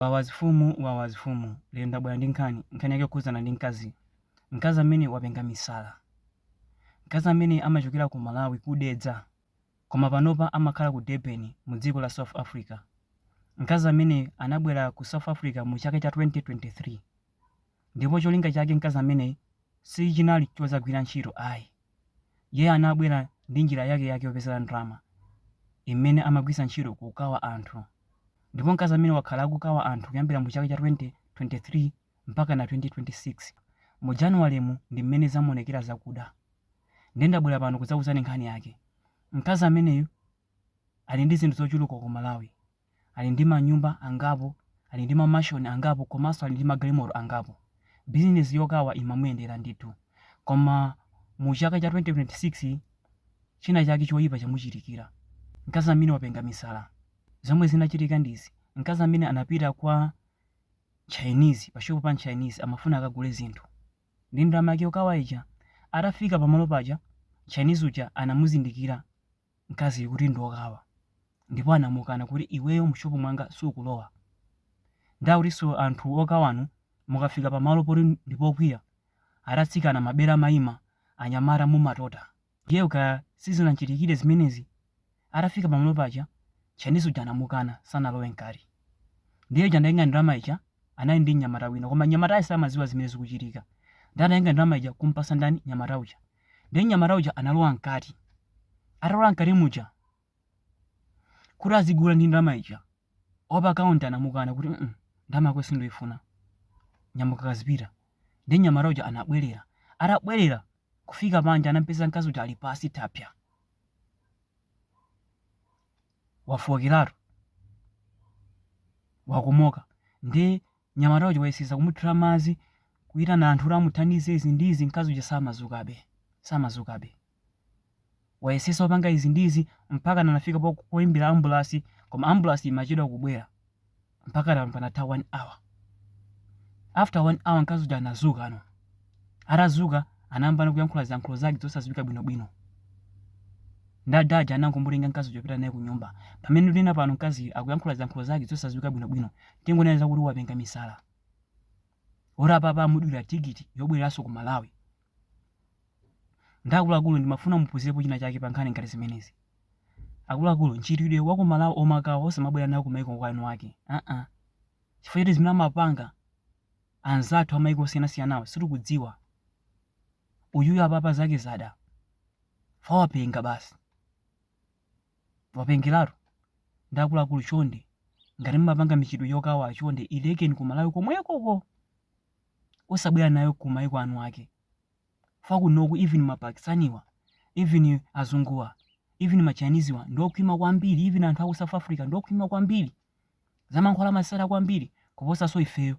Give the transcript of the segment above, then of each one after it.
Wawa azifumu Wawa azifumu Lero ndabwera ndi nkhani, nkhani yake yokhudzana ndi mkazi, mkazi amene wapenga misala, mkazi amene amachokera ku Malawi ku Dedza koma panopa amakhala ku Durban mu dziko la South Africa, mkazi amene anabwera ku South Africa mu chaka cha 2023. Ndipo cholinga chake mkazi ameneyi sichinali chodzagwira ntchito ayi. Iye anabwera ndi njira yake yake yopezera ndalama imene amagwiritsa ntchito kukawa anthu. Ndipo mkazi ameneyi wakhala akukawa anthu kuyambira mu chaka cha 2023 mpakana 2026. Mu January mu ndi mmene zamuonekera zakuda. Nde ndabwera pano kudzakuuzani nkhani yake. Mkazi ameneyu ali ndi zinthu zochuluka ku Malawi. ali ndi manyumba angapo, ali ndi mamashoni angapo komanso ali ndi magalimoto angapo. Bizinesi yokawa imamuyendera ndithu. Koma mu chaka cha 2026 china chake choyipa chamuchitikira. Mkazi amene wapenga misala. Zomwe zinachitika ndi izi, mkazi amene anapita kwa Chinese, pa shopu pa Chinese amafuna akagule zinthu ndi ndalama yake yokawa ija. Atafika pamalo paja, Chinese uja anamuzindikira. mkaziyu kuti ndiokawa ndipo anamukana kuti iweyo mu shop mwanga sukulowa nde akutinso anthu okawanu mukafika pa malo poti ndipokwiya ati atsikana mabere amaima anyamata mumatota. Girl kaya sizinamchitikire zimenezi atafika pamalo paja Chinese uja anamukana sanalowe mkati nde uja anatenga ndalama ija anali ndi mnyamata wina koma mnyamatayo samaziwa zimene zikuchitika nde anatenga ndalama ija kumpasa ndani mnyamata uja Ndiye mnyamata uja analowa mkati. Atalowa mkati muja kuti azigula ndi ndalama ija. Opa counter anamukana kuti mm ndalama yako sindoifuna. Nyamuka kazipita. Ndiye mnyamata uja anabwerera. Atabwerera kufika panja anampeza mkazi uja ali pasi thapsa. Wafookeratu. Wakomoka. Ndiye Mnyamata uja wayesesa kumuthira madzi, kuyitana anthu kuti amuthandize izi ndi izi, mkazi uja samadzukabe, samadzukabe. Wayesesa kupanga izi ndi izi, mpakana anafika po- poyimbira ambulasi, koma ambulasi imachedwa kubwera. Mpakana panatha 1 hour. After 1 hour mkazi uja anadzukano. Atadzuka, anayambano kuyankhula ziyankhulo zake zosadziwika bwinobwino. Nde ada aja anangomutenga mkazi uja kupita naye ku nyumba. Pamene ndinena pano mkaziyu akuyankhula ziyankhulo zake zosadziwika bwinobwino, tingonena zakuti wapenga misala. Moti apapa amudulira tikiti yobwereranso ku Malawi. Nde akuluakulu ndimafuna muphunzirepo china chake pa nkhani ngati zimenezi. Akuluakulu, mchitidwe wa ku Malawi omakawa osamabwera nawo ku maiko kwa eni wake. Aa. Chifukwa choti zimene amapanga anzathu amaiko osiyanasiyanawa sitikuwadziwa uyuyu apapa zake zada wapenga basi wapengeratu ndi akuluakulu chonde ngati mumapanga mchitidwe wokawa chonde ilekeni ku malawi komwekoko osabwera nayo ku maiko a eni ake kunoku even mapakistaniwa even azunguwa even machiniziwa ndiokhwima kwambiri even anthu aku south africa ndiokhwima kwambiri zamankhwala amazitsata kwambiri kuposanso ifeyo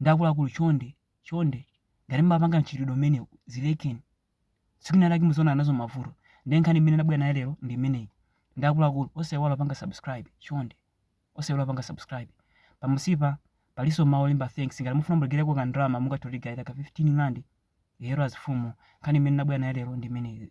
ndi akuluakulu chonde chonde ngati mumapanga mchitidwe umenewu zilekeni tsiku lina lake muzaona nazo mavuto ndiye nkhani imene ndabwera nayo lero ndi imeneyi ndi akuluakulu osaiwala kupanga subscribe chonde osaiwala kupanga subscribe pamunsipa palinso mawu olemba thanks ngati mufuna muperekeko ka ndalama mungathe kutigayira ka 15 rand yero azifumu nkhani imene ndabwera nayo lero ndi imeneyi